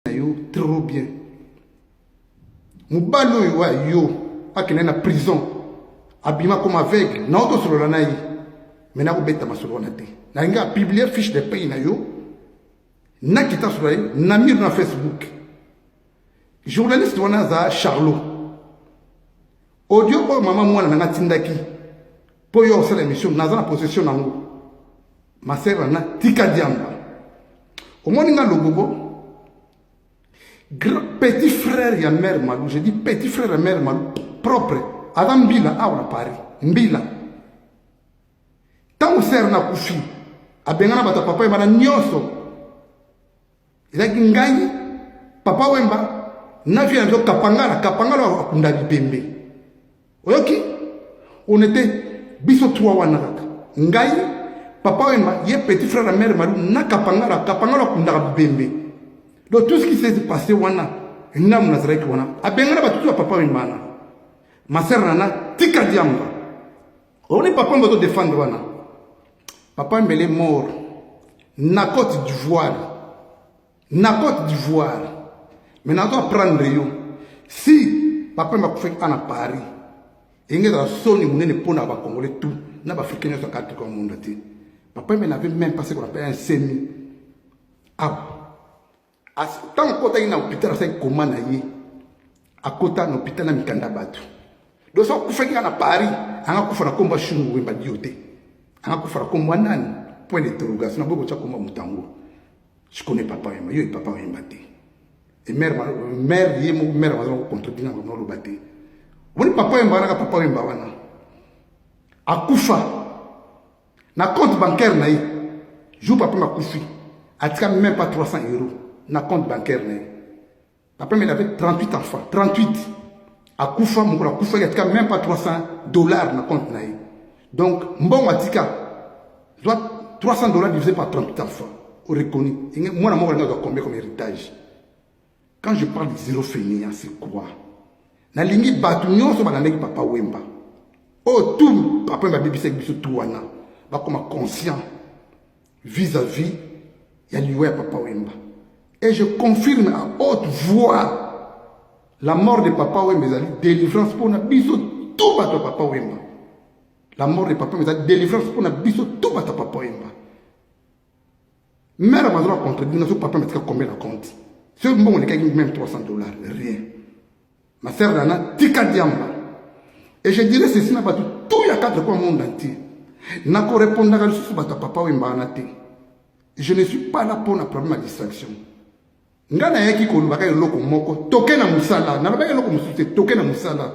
na yo trop bien mobali oyo wa yo akende na prison abima comme aveugle na yo tosolola na ye mai nakobeta masolo wana te nalingi apiblie fiche de paye na yo nakita solola ye na mire na facebook journaliste wana aza charlot audio oyo mama mwana na nga atindaki mpo yo osala émission naza na possession na yango Ma sœur na nga tika diamba. Omoni nga logobo. Petit frère ya mère Malou, je dis petit frère ya mère Malou propre. Aza mbila awa na Paris. Mbila. Tango sœur na kufi. Abengana bata papa ye bana nyoso. ezalaki ngai papa wemba na vie nazo kapangala kapangala akunda bipembe oyoki on était biso trois wana kaka ngai papa wemba ye petit frère ya mère malu na kapangala kapangala akundaka bipembe donc tout ce qui s'est passé wana namu nazalaki wana abengana batutu ya papa wemba na masere nana tika diamba Omoni papa mboto defendre wana. Papa Mbele mort na Côte d'Ivoire. Na Côte d'Ivoire. Mais nazo apprendre yo. Si papa mba kufaki ana Paris. Enge za soni munene pona ba Congolais tout na ba Africains nyoso kati kwa monde te. Papa Mbele n'avait même pas ce qu'on appelle un semi. Ah. ntango akotaki na hopital asaki koma na ye akota na hopital na mikanda bato donc soki akufaki kaka na paris anga kufa na nkombo ya shungu wemba dio te anga kufa na nkombo ya nani point d'interrogation naboyi kotya nkombo ya moto yango je connais papa wemba yo papa wemba te e mare mare ye moko mare bazala kocontredire na bango oloba te omoni papa wemba wana ka papa wemba wana akufa na compte bancaire na ye jour papa makufi atika même pas 300 euros na compte bancaire na ye papa mele avec 38 enfants 38 akufa mokolo akufaki atika même pas 300 dollars na compte na ye donc mbongo atika zwa 300 dollars divisé par 38 enfants oreconi mwana moko alingi azwa combien comme héritage Quand je parle de zero fainéant, c'est quoi? Nalingi bato nyonso balandaki papa Wemba. Oh tout papa Wemba abebisaki biso tout wana. Bakoma conscient vis-à-vis -vis ya liwa ya papa Wemba. Et je confirme à haute voix la mort de papa Wemba ezali délivrance mpo na biso tout bato ya papa Wemba. La mort de papa Wemba ezali délivrance mpo na biso tout bato ya papa Wemba. mère mazo na contredire nazo papa matika combien na compte soki mbongo elekaki même 300 dollars rien ma sœur dana tika diamba et je dirais ceci na bato tout ya quatre coin monde entier nakorepondaka lisusu bato ya papa oyo embana te je ne suis pas là mpo na problème ya distraction ngai nayaki kolobaka eloko moko toke na mosala nalobaki eloko mosusu te toke na mosala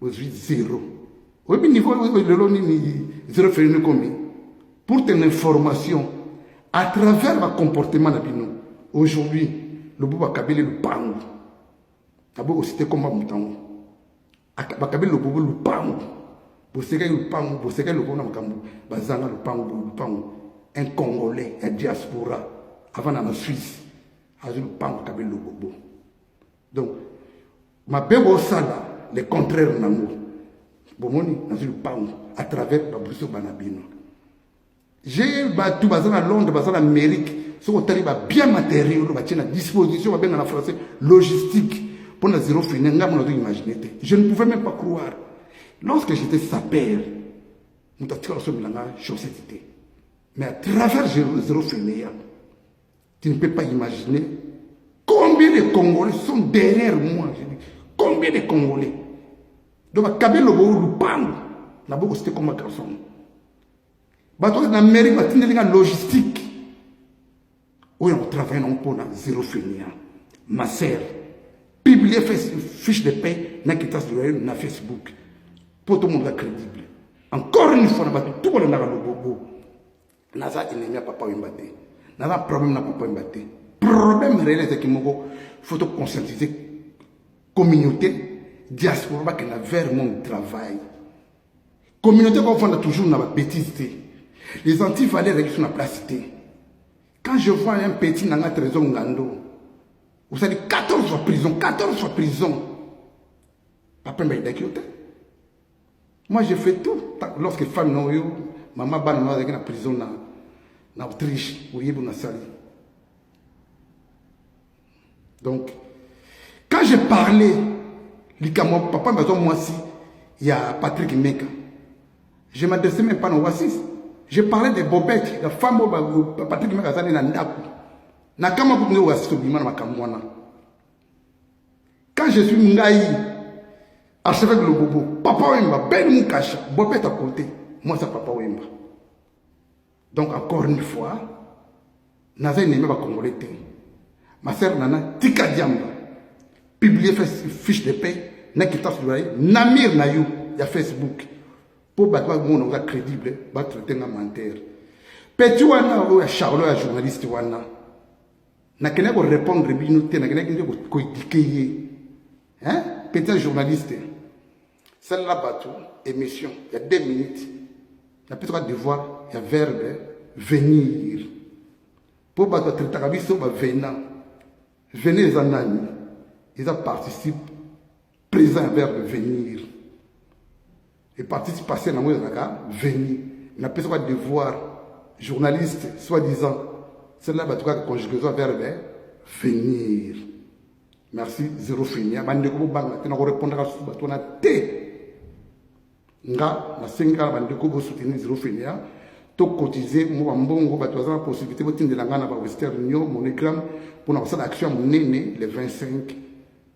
ozwi zero oyebi niveau oyo lelo nini zero felini combien pour ton information à travers bacomportement na bino aujourd'hui lobo bakabeli lupangu abo osite komba moto yango bakabeli lobo bo lupangu bosekaki lupangu bosekaki lobo na makambo bazanga lupangu bo lupangu un congolais ya diaspora avanda na suisse azwi lupangu akabeli lobo bo donc mabe bosala le contraire nango bomoni nazwi lupango à travers babriso bana bino je bato baza na londres baza na amérique soki otali babien matériel oyo batie na disposition babenga na français logistique mpo na zero fine ngai mona ozoimagine te je ne pouvais même pas croire lorsque j'étais saper moto atikala somi na ngai chaussette te mais à travers zero fine ya Tu ne peux pas imaginer combien de Congolais sont derrière moi. Je dis, combien de Congolais Donc, bakabe lobo lupango. Na boko c'était comme un garçon. Bato na Amérique batindeli nga logistique. Oyo on travaille non pour na zéro finir. Ma sœur, publier fiche de paix na kitas de loyer na Facebook. Pour tout le monde crédible. Encore une fois, na bato tout le monde na lobo. naza ennemi ya papa wemba te naza problème na papa wemba te problème réel ezalaki moko faut to conscientiser communauté diaspora bakenda vers mon travail communauté kofanda toujours na babétise te les antivaleur ezalaki so na place te quand je vois un petit nanga trésor ngando osali 14 fois prison 14 fois prison papa wemba ayidaki yo te Moi, je fais tout. Lorsque femme non yo, maman bana non avec la prison na na Autriche, au Yébo na sali. Donc, quand j'ai parlé, likamwa papa mbazo mwasi ya Patrick Meka, je m'adressais même pas na Oasis. Je parlais des bobettes, la femme au Patrick Meka azali na ndaku. Na kama kutu ndio Oasis obima na makambo wana. quand je suis ngai archevêque lobobo papa wemba ben mukasha bobeta kote mwasa papa wemba donc encore une fois naza enemi bacongolais te ma sœur nana tika diamba publie fiche de paix na kitasi libaye na mire na yo ya facebook mpo bato bamona oza crédible batraite nga menteur petit wana oyo ya charlot ya journaliste wana nakendaki korepondre bino te nakendaki nde koedike ye hein? petit journaliste salela bato émission ya 2 minutes napesaka devoir ya verbe venir mpo bato atretaka biso bavena venir eza nani eza participe présent ya verbe venir Hepatite partielle nango ezalaka veni. Napesa kwa devoir journaliste soi-disant celle-là bato kaka conjugaison verbe venir. Merci zero finia bandeko bobanga te nakorepondaka susu bato wana te nga nasengi kaka bandeko bosoutenir zero finia tokotize mwa mbongo bato baza na possibilité botindela ngai na bawestern union monogramme mpona kosala action ya monene le 25